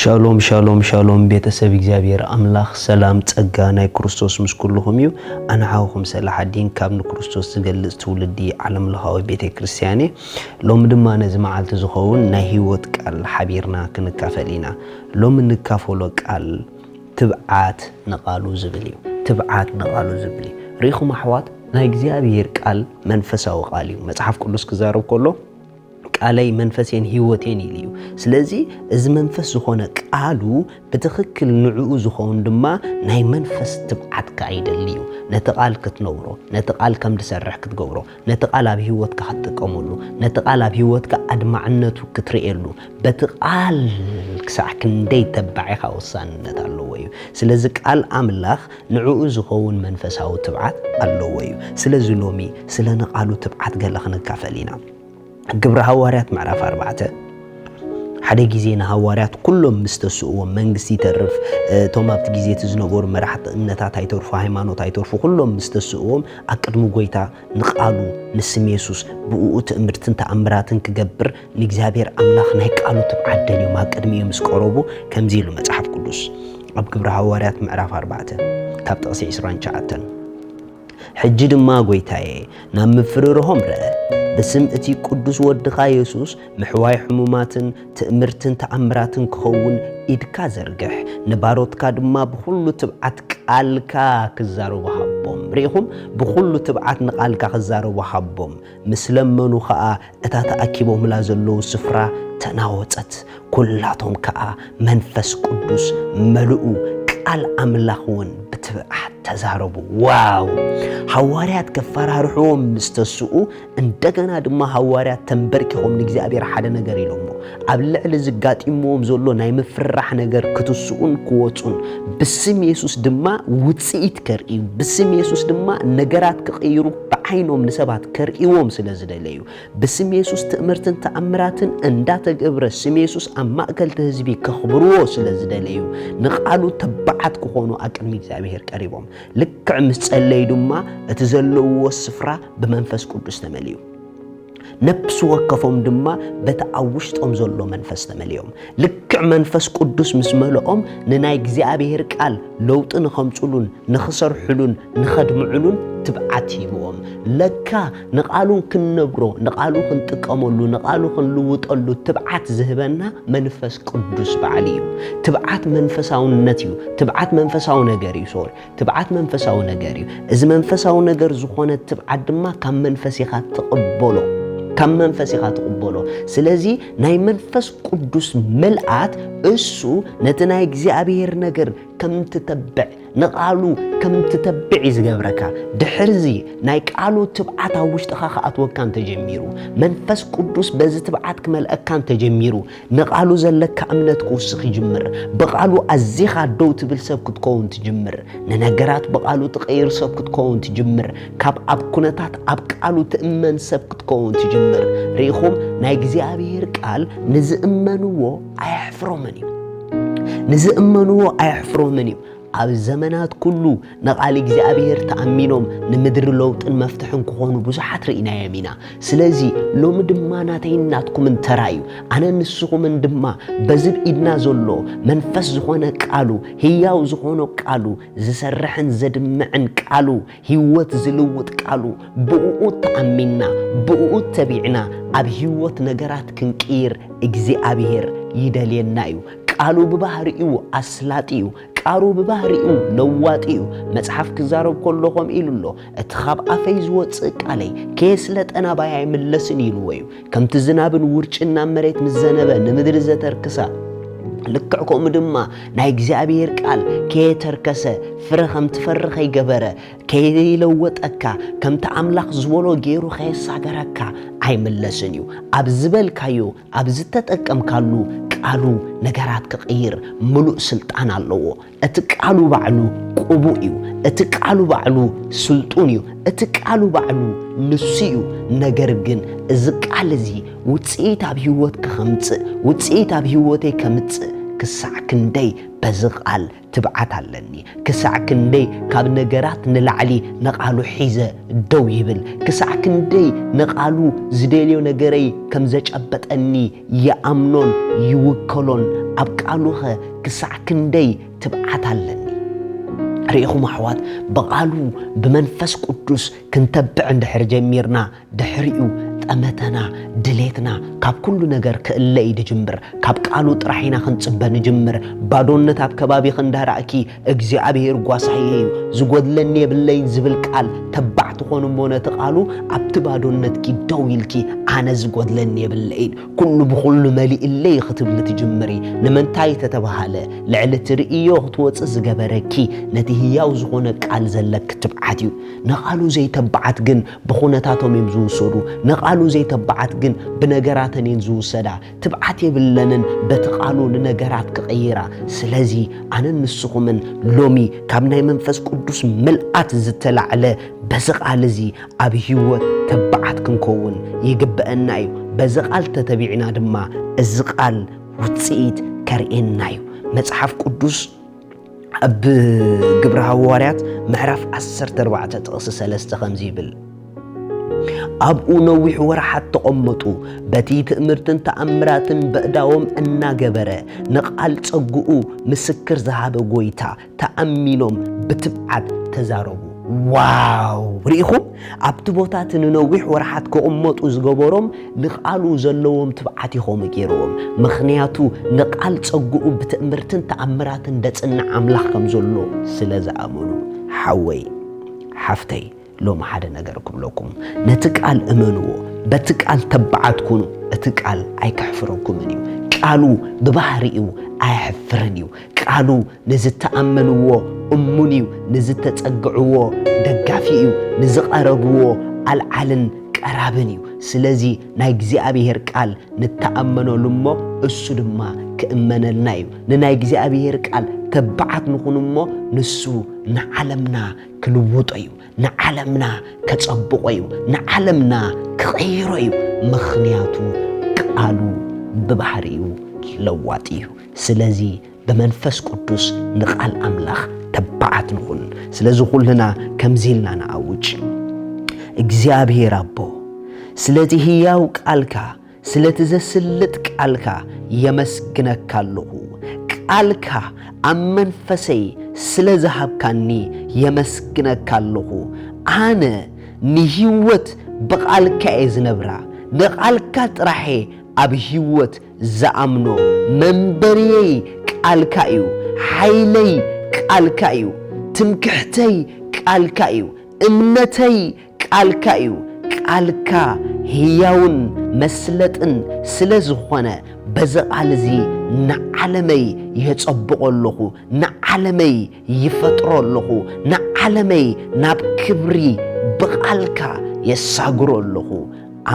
ሻሎም ሻሎም ሻሎም ቤተሰብ እግዚኣብሔር ኣምላኽ ሰላም ጸጋ ናይ ክርስቶስ ምስ ኩልኹም እዩ ኣንሓውኹም ሰላሓዲን ካብ ንክርስቶስ ዝገልጽ ትውልዲ ዓለምለኻዊ ቤተ ክርስቲያን እየ ሎሚ ድማ ነዚ መዓልቲ ዝኸውን ናይ ህይወት ቃል ሓቢርና ክንካፈል ኢና። ሎሚ እንካፈሎ ቃል ትብዓት ንቓሉ ዝብል እዩ። ትብዓት ንቓሉ ዝብል እዩ። ርኢኹም ኣሕዋት ናይ እግዚኣብሄር ቃል መንፈሳዊ ቃል እዩ። መጽሓፍ ቅዱስ ክዛረብ ከሎ ቃለይ መንፈሴን ህይወቴን ኢሉ እዩ። ስለዚ እዚ መንፈስ ዝኾነ ቃሉ ብትኽክል ንዕኡ ዝኸውን ድማ ናይ መንፈስ ትብዓትካ ይደሊ እዩ። ነቲ ቃል ክትነብሮ፣ ነቲ ቃል ከም ዝሰርሕ ክትገብሮ፣ ነቲ ቃል ኣብ ህይወትካ ክትጥቀመሉ፣ ነቲ ቃል ኣብ ህይወትካ ኣድማዕነቱ ክትርእየሉ፣ በቲ ቃል ክሳዕ ክንደይ ተባዕ ኢኻ ወሳንነት ኣለዎ እዩ። ስለዚ ቃል ኣምላኽ ንዕኡ ዝኸውን መንፈሳዊ ትብዓት ኣለዎ እዩ። ስለዚ ሎሚ ስለ ንቓሉ ትብዓት ገለ ክንካፈል ኢና። ግብሪ ሃዋርያት ምዕራፍ ኣርባዕተ ሓደ ግዜ ንሃዋርያት ኩሎም ምስ ተስእዎም መንግስቲ ይተርፍ እቶም ኣብቲ ግዜ እቲ ዝነበሩ መራሕቲ እምነታት ኣይተርፉ ሃይማኖት ኣይተርፉ ኩሎም ምስ ተስእዎም ኣብ ቅድሚ ጎይታ ንቃሉ ንስም የሱስ ብእኡ ትእምርትን ተኣምራትን ክገብር ንእግዚኣብሔር ኣምላኽ ናይ ቃሉ ትብዓት ደልዮም ኣብ ቅድሚ እዩ ምስ ቀረቡ ከምዚ ኢሉ መጽሓፍ ቅዱስ ኣብ ግብሪ ሃዋርያት ምዕራፍ ኣርባዕተ ካብ ጥቕሲ 29 ሕጂ ድማ ጐይታየ፣ ናብ ምፍርርሆም ርእ፣ ብስም እቲ ቅዱስ ወድኻ የሱስ፣ ምሕዋይ ሕሙማትን ትእምርትን ተኣምራትን ክኸውን ኢድካ ዘርግሕ፣ ንባሮትካ ድማ ብዅሉ ትብዓት ቃልካ ክዛረቡ ሃቦም። ርኢኹም? ብዅሉ ትብዓት ንቓልካ ክዛረቡ ሃቦም። ምስ ለመኑ ኸኣ እታ ተኣኪቦምላ ዘለዉ ስፍራ ተናወጸት፣ ኵላቶም ከኣ መንፈስ ቅዱስ መልኡ፣ ቃል ኣምላኽውን ብትብዓት ተዛረቡ። ዋው! ሃዋርያት ከፈራርሕዎም ምስ ተስኡ፣ እንደገና ድማ ሃዋርያት ተምበርኪኾም ንእግዚኣብሄር ሓደ ነገር ኢሎሞ፣ ኣብ ልዕሊ እዚ ጋጢምዎም ዘሎ ናይ ምፍርራሕ ነገር ክትስኡን ክወጹን፣ ብስም የሱስ ድማ ውጽኢት ከርእዩ፣ ብስም የሱስ ድማ ነገራት ክቕይሩ፣ ብዓይኖም ንሰባት ከርእይዎም ስለ ዝደለዩ፣ ብስም የሱስ ትእምርትን ተኣምራትን እንዳተገብረ ስም የሱስ ኣብ ማእከል እቲ ህዝቢ ከኽብርዎ ስለ ዝደለዩ፣ ንቓሉ ተባዓት ክኾኑ ኣብ ቅድሚ እግዚኣብሄር ቀሪቦም። ልክዕ ምስ ጸለዩ ድማ እቲ ዘለውዎ ስፍራ ብመንፈስ ቅዱስ ተመልኡ። ነፍሲ ወከፎም ድማ በቲ ኣብ ውሽጦም ዘሎ መንፈስ ተመሊኦም ልክዕ መንፈስ ቅዱስ ምስ መልኦም ንናይ እግዚኣብሔር ቃል ለውጢ ንኸምፅሉን ንኽሰርሕሉን ንኸድምዕሉን ትብዓት ሂብዎም ለካ ንቓሉ ክንነብሮ ንቓሉ ክንጥቀመሉ ንቓሉ ክንልውጠሉ ትብዓት ዝህበና መንፈስ ቅዱስ በዓል እዩ ትብዓት መንፈሳውነት እዩ ትብዓት መንፈሳዊ ነገር እዩ ሶሪ ትብዓት መንፈሳዊ ነገር እዩ። እዚ መንፈሳዊ ነገር ዝኾነ ትብዓት ድማ ካብ መንፈስ ኢኻ ትቕበሎ ካብ መንፈስ ኢኻ ትቕበሎ። ስለዚ ናይ መንፈስ ቅዱስ ምልኣት እሱ ነቲ ናይ እግዚኣብሔር ነገር ከም ትተብዕ ንቃሉ ከም ትተብዕ እዩ ዝገብረካ ድሕርዚ ናይ ቃሉ ትብዓት ኣብ ውሽጥኻ ክኣትወካ እንተጀሚሩ መንፈስ ቅዱስ በዚ ትብዓት ክመልአካ እንተጀሚሩ ንቓሉ ዘለካ እምነት ክውስኽ ይጅምር። ብቓሉ ኣዚኻ ደው ትብል ሰብ ክትከውን ትጅምር። ንነገራት ብቓሉ ትቐይር ሰብ ክትከውን ትጅምር። ካብ ኣብ ኩነታት ኣብ ቃሉ ትእመን ሰብ ክትከውን ትጅምር። ርኢኹም ናይ እግዚኣብሔር ቃል ንዝእመንዎ ኣየሕፍሮምን እዩ። ንዝእመንዎ ኣየሕፍሮምን እዩ። ኣብ ዘመናት ኩሉ ንቓል እግዚኣብሔር ተኣሚኖም ንምድሪ ለውጥን መፍትሕን ክኾኑ ብዙሓት ርኢናዮም ኢና። ስለዚ ሎሚ ድማ ናተይን ናትኩምን ተራ እዩ። ኣነን ንስኹምን ድማ በዚ ብ ኢድና ዘሎ መንፈስ ዝኾነ ቃሉ፣ ህያው ዝኾኖ ቃሉ፣ ዝሰርሕን ዘድምዕን ቃሉ፣ ህይወት ዝልውጥ ቃሉ ብእኡ ተኣሚንና ብእኡ ተቢዕና ኣብ ህይወት ነገራት ክንቅይር እግዚኣብሔር ይደልየና እዩ። ቃሉ ብባህሪኡ ኣስላጢ እዩ። ቃሩ ብባህሪኡ ለዋጢ እዩ። መጽሓፍ ክዛረብ ከሎ ከምኡ ኢሉ ኣሎ፣ እቲ ኻብ ኣፈይ ዝወጽእ ቃለይ ከየስለጠ ናባይ ኣይምለስን ኢልዎ እዩ። ከምቲ ዝናብን ውርጭን ናብ መሬት ምስ ዘነበ ንምድሪ ዘተርክሳ ልክዕ ከምኡ ድማ ናይ እግዚኣብሔር ቃል ከየተርከሰ ፍረ ከም ትፈሪ ከይገበረ ከይለወጠካ ከምቲ ኣምላኽ ዝበሎ ገይሩ ከየሳገረካ ኣይምለስን እዩ ኣብ ዝበልካዮ ኣብ ዝተጠቀምካሉ ቃሉ ነገራት ክቕይር ምሉእ ስልጣን ኣለዎ እቲ ቃሉ ባዕሉ ቅቡእ እዩ፣ እቲ ቃሉ ባዕሉ ስልጡን እዩ፣ እቲ ቃሉ ባዕሉ ንሱ እዩ። ነገር ግን እዚ ቃል እዚ ውፅኢት ኣብ ህይወትኪ ከምፅእ ውፅኢት ኣብ ህይወተይ ከምፅእ ክሳዕ ክንደይ በዚ ቃል ትብዓት ኣለኒ፣ ክሳዕ ክንደይ ካብ ነገራት ንላዕሊ ንቓሉ ሒዘ ደው ይብል፣ ክሳዕ ክንደይ ንቓሉ ዝደልዮ ነገረይ ከም ዘጨበጠኒ ይኣምኖን ይውከሎን፣ ኣብ ቃሉኸ ክሳዕ ክንደይ ትብዓት ኣለኒ ርኢኹም ኣሕዋት ብቓሉ ብመንፈስ ቅዱስ ክንተብዕ እንድሕር ጀሚርና ድሕሪኡ ጠመተና ድሌትና ካብ ኩሉ ነገር ክእለ እዩ ድጅምር ካብ ቃሉ ጥራሕ ኢና ክንጽበ ንጅምር ባዶነት ኣብ ከባቢኺ እንዳራእኪ እግዚኣብሄር ጓሳየ እዩ ዝጎድለኒ የብለይን ዝብል ቃል ተባዕ ትኾኑ እሞ ነቲ ቃሉ ኣብቲ ባዶነትኪ ደው ኢልኪ ኣነ ዝጎድለኒ የብለይን ኩሉ ብኹሉ መሊእለይ ኽትብሊ ትጅምሪ። ንምንታይ ተተባህለ፣ ልዕሊ ትርእዮ ኽትወጺ ዝገበረኪ፣ ነቲ ህያው ዝኾነ ቃል ዘለኪ ትብዓት እዩ። ንቓሉ ዘይተባዓት ግን ብኹነታቶም እዮም ዝውሰዱ። ንቓሉ ዘይተባዓት ግን ብነገራተን እየን ዝውሰዳ። ትብዓት የብለንን በቲ ቓሉ ንነገራት ክቕይራ። ስለዚ ኣነን ንስኹምን ሎሚ ካብ ናይ መንፈስ ቅዱስ ምልኣት ዝተላዕለ በዚ ቓል እዚ ኣብ ህይወት ተባዓት ክንከውን ይግበእና እዩ። በዚ ቃል ተተቢዕና ድማ እዚ ቃል ውጽኢት ከርእየና እዩ። መጽሓፍ ቅዱስ ኣብ ግብረ ሃዋርያት ምዕራፍ 14 ጥቕሲ 3 ከምዚ ይብል ኣብኡ ነዊሕ ወርሓት ተቐመጡ። በቲ ትእምርትን ተኣምራትን በእዳዎም እናገበረ ንቓል ጸግኡ ምስክር ዝሃበ ጎይታ ተኣሚኖም ብትብዓት ተዛረቡ። ዋው! ርኢኹም? ኣብቲ ቦታ እቲ ንነዊሕ ወርሓት ክቕመጡ ዝገበሮም ንቓሉ ዘለዎም ትብዓት እዩ ከምኡ ገይርዎም። ምኽንያቱ ንቓል ጸግኡ ብትእምርትን ተኣምራትን ደጽንዕ ኣምላኽ ከም ዘሎ ስለ ዝኣመኑ። ሓወይ! ሓፍተይ! ሎሚ ሓደ ነገር ክብለኩም፣ ነቲ ቃል እመንዎ፣ በቲ ቃል ተባዓት ኩኑ፣ እቲ ቃል ኣይከሕፍረኩምን እዩ። ቃሉ ብባህሪኡ ኣየሕፍርን እዩ። ቃሉ ንዝተኣመንዎ እሙን እዩ፣ ንዝተጸግዕዎ ደጋፊ እዩ፣ ንዝቐረብዎ ኣልዓልን ቀራብን እዩ። ስለዚ ናይ እግዚኣብሄር ቃል ንተኣመነሉ እሞ እሱ ድማ ክእመነልና እዩ። ንናይ እግዚኣብሄር ቃል ተባዓት ንኹን እሞ ንሱ ንዓለምና ክልውጦ እዩ ንዓለምና ከጸብቆ እዩ ንዓለምና ክቐይሮ እዩ ምኽንያቱ ቃሉ ብባህሪኡ ለዋጢ እዩ ስለዚ ብመንፈስ ቅዱስ ንቓል ኣምላኽ ተባዓት ንኹን ስለዚ ኩልና ከምዚ ኢልና ንኣውጅ እግዚኣብሔር ኣቦ ስለዚ ህያው ቃልካ ስለቲ ዘስልጥ ቃልካ የመስግነካ ኣለኹ። ቃልካ ኣብ መንፈሰይ ስለ ዝሃብካኒ የመስግነካ ኣለኹ። ኣነ ንህይወት ብቓልካ እየ ዝነብራ። ንቓልካ ጥራሕ'የ ኣብ ህይወት ዝኣምኖ። መንበርየይ ቃልካ እዩ። ሓይለይ ቃልካ እዩ። ትምክሕተይ ቃልካ እዩ። እምነተይ ቃልካ እዩ ቃልካ ህያውን መስለጥን ስለ ዝኾነ በዚ ቃል እዚ ንዓለመይ የጸብቆ ኣለኹ ንዓለመይ ይፈጥሮ ኣለኹ ንዓለመይ ናብ ክብሪ ብቃልካ የሳግሮ ኣለኹ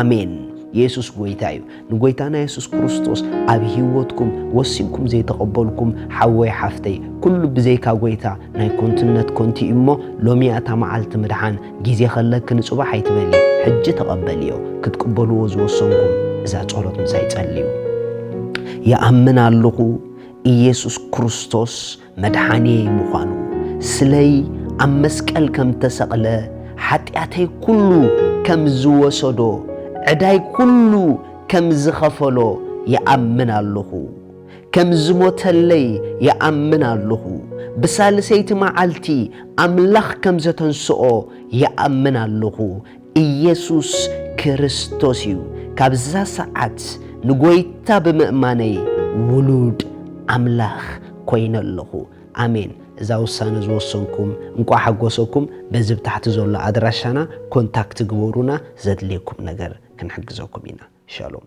ኣሜን የሱስ ጎይታ እዩ ንጎይታና የሱስ ክርስቶስ ኣብ ህይወትኩም ወሲንኩም ዘይተቐበልኩም ሓወይ ሓፍተይ ኩሉ ብዘይካ ጎይታ ናይ ኮንትነት ኮንቲ እዩ እሞ ሎሚ እያ እታ መዓልቲ ምድሓን ግዜ ከለኪ ንጽባሕ ኣይትበሊ ሕጂ ተቐበልዮ ክትቅበልዎ ዝወሰንኩም እዛ ጸሎት ምሳይ ጸልዩ ይኣምን ኣለኹ ኢየሱስ ክርስቶስ መድሓኒየይ ምዃኑ፣ ስለይ ኣብ መስቀል ከም ተሰቕለ፣ ሓጢኣተይ ኩሉ ከም ዝወሰዶ፣ ዕዳይ ኩሉ ከም ዝኸፈሎ ይኣምን ኣሎኹ። ከም ዝሞተለይ ይኣምን ኣሎኹ። ብሳልሰይቲ መዓልቲ ኣምላኽ ከም ዘተንስኦ ይኣምን ኣሎኹ። ኢየሱስ ክርስቶስ እዩ። ካብዛ ሰዓት ንጎይታ ብምእማነይ ውሉድ ኣምላኽ ኮይነ ኣለኹ። ኣሜን። እዛ ውሳነ ዝወሰንኩም እንቋዕ ሓጎሰኩም። በዚ ብታሕቲ ዘሎ ኣድራሻና ኮንታክት ግበሩና ዘድልየኩም ነገር ክንሕግዘኩም ኢና። ሻሎም።